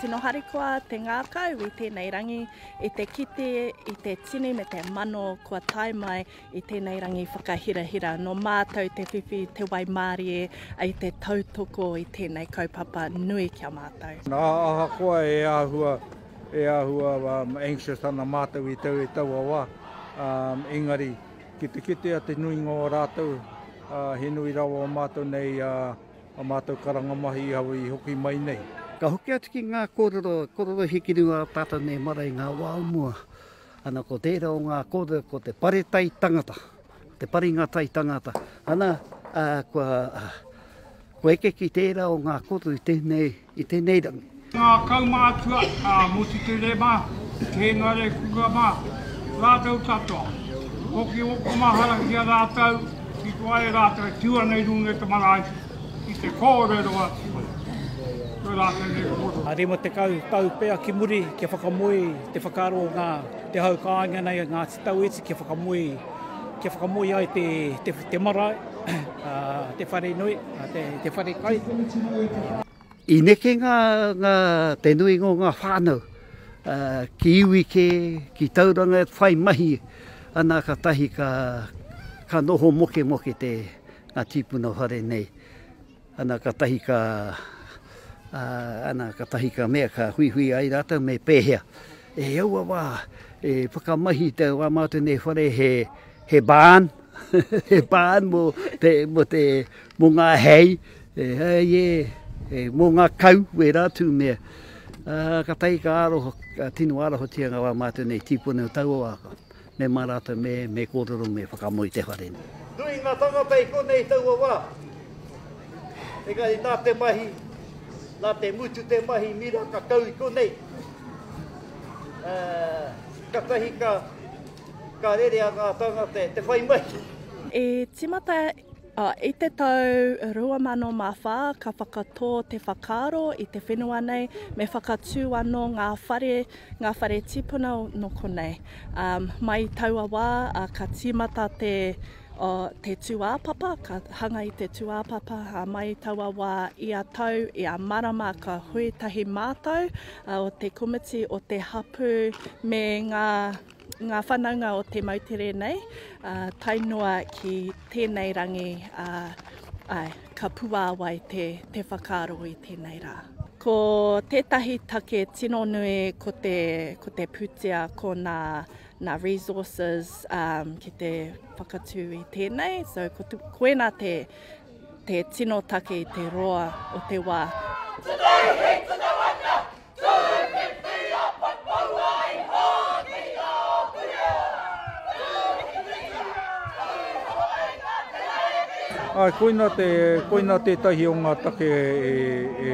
Tino harikoa te ngākau i tēnei rangi i te kite i te tini me te mano kua tae mai I tēnei rangi whakahirahira, nō mātou te whiwhi te waimārie i te tautoko i tēnei kaupapa nui kia mātou. Nā, ahakoa e āhua, e āhua anxious ana mātou i tau, i taua wā, engari, ki te kitea te nuinga o rātou, he nui rawa o mātou nei a mātou karanga mahi i hoki mai nei. Ka hoki atu ki ngā kōrero, kōrero hikini o ā tātou nei marae i ngā wā o mua. Ana ko tērā o ngā kōrero ko te pare tai tangata, te paringa tai tangata. Ana a, kua, a, kua eke ki tērā o ngā kōrero i tēnei, i tēnei rangi. Ngā kaumātua a Motuterema, Kēngare Kurama, rātou katoa. Hoki ōku mahara ki a rātou ki tua e rātou e tū ana i runga i te marae ki te kōrero atu mai. Ko rātou nei kōrero. 50 tau pea ki muri kia whakamoe Te whakaaro o ngā, te hau kāinga nei a Ngāti Tauiti kia whakamoe, kia whakamoe ai te, te, te marae, te whare nui, te, te whare kai. I neke ngā, ngā te nuinga o ngā whānau uh, ki iwi kē, ki tauranga e whai mahi ana ka tahi ka, ka noho moke moke te ngā tīpuna whare nei. Ana ka tahi ka ana ka tahi ka mea ka huihui ai rātou me pēhea e aua wā e whakamahi te wā mātou nei whare he he barn he barn mo te mo te mo ngā hei e hei e, e mo ngā kau we rātou me a, ka tahi ka aro ka tino arahotia ngā wā mātou nei tīpone o taua wā Me mā rātou me, me kōrero, me whakamoe te whare nei. Nui ngā tāngata i konei i taua wā, engari nā te mahi, nā te mutu te mahi miraka kau i konei, eh, katahi ka, ka rere a ngā tāngata e te whai mahi. I tīmata, oh, i te tau 2004 ka whakatō te whakaaro i te whenua nei me whakatū anō ngā whare ngā whare tipuna no konei. Um, mai taua wā, uh, ka tīmata te, uh, te tūāpapa, ka hanga i te tūāpapa, uh, mai taua wā i a tau, i a marama, ka hui tahi mātou uh, o te komiti o te hapū me ngā Ngā whanaunga o te moutere nei, tae noa ki tēnei rangi, āe, ka puāwai te, te whakaaro i tēnei rā. Ko tētahi take tino nui ko te, ko te pūtea ko nā, nā resources um, ki te whakatū i tēnei. So ko tu, koena te, te tino take i te roa o te wā. Today, Āe, koina, te, koina tētahi o ngā take e, e,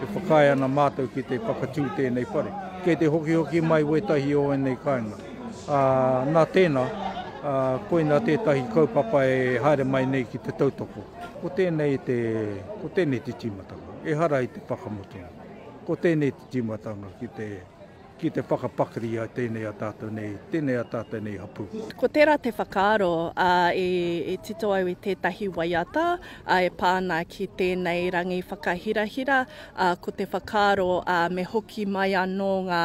e whakaae ana mātou ki te whakatū tēnei whare. Kei te hokihoki mai wētahi o ēnei kāinga. Ā, nā tēnā, ā, koina tētahi kaupapa e haere mai nei ki te tautoko. Ko tēnei te, ko tēnei te tīmatanga, ehara i te whakamutunga. Ko tēnei te tīmatanga ki te, ki te whakapakari i a tēnei a tātou nei, tēnei a tātou nei hapū. Ko tērā te whakaaro, ā, i, i tito au i tētahi waiata, ā, e pā ana ki tēnei rangi whakahirahira, ā, ko te whakaaro, ā, me hoki mai anō ngā,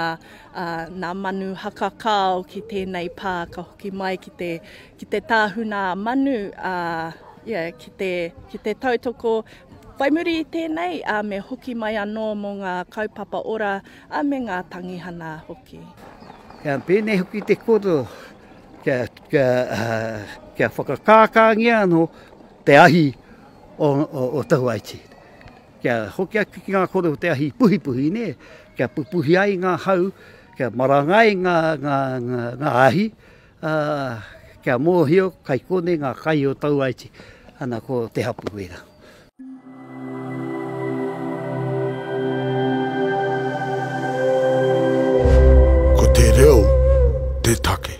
ā, nā manu hakakao ki tēnei pā, ka hoki mai ki te, ki te tāhuna manu, ā, ia, ki te, ki te tautoko Whai muri i tēnei, ā, me hoki mai anō mō ngā kaupapa ora, ā, me ngā tangihana hoki. Kia pēnei hoki te kōrero, kia, kia, kia whakakākāngia anō te ahi o, o, o Tahuaiti. Kia hoki atu ki ngā kōrero te ahi puhipuhi, ne? Kia pupuhi ai ngā hau, kia marangai ngā, ngā, ngā, ngā ahi, Ā, kia mōhio kai konei ngā kai o Tauaiti, ana ko Te Hapu wērā. Ko te reo te take.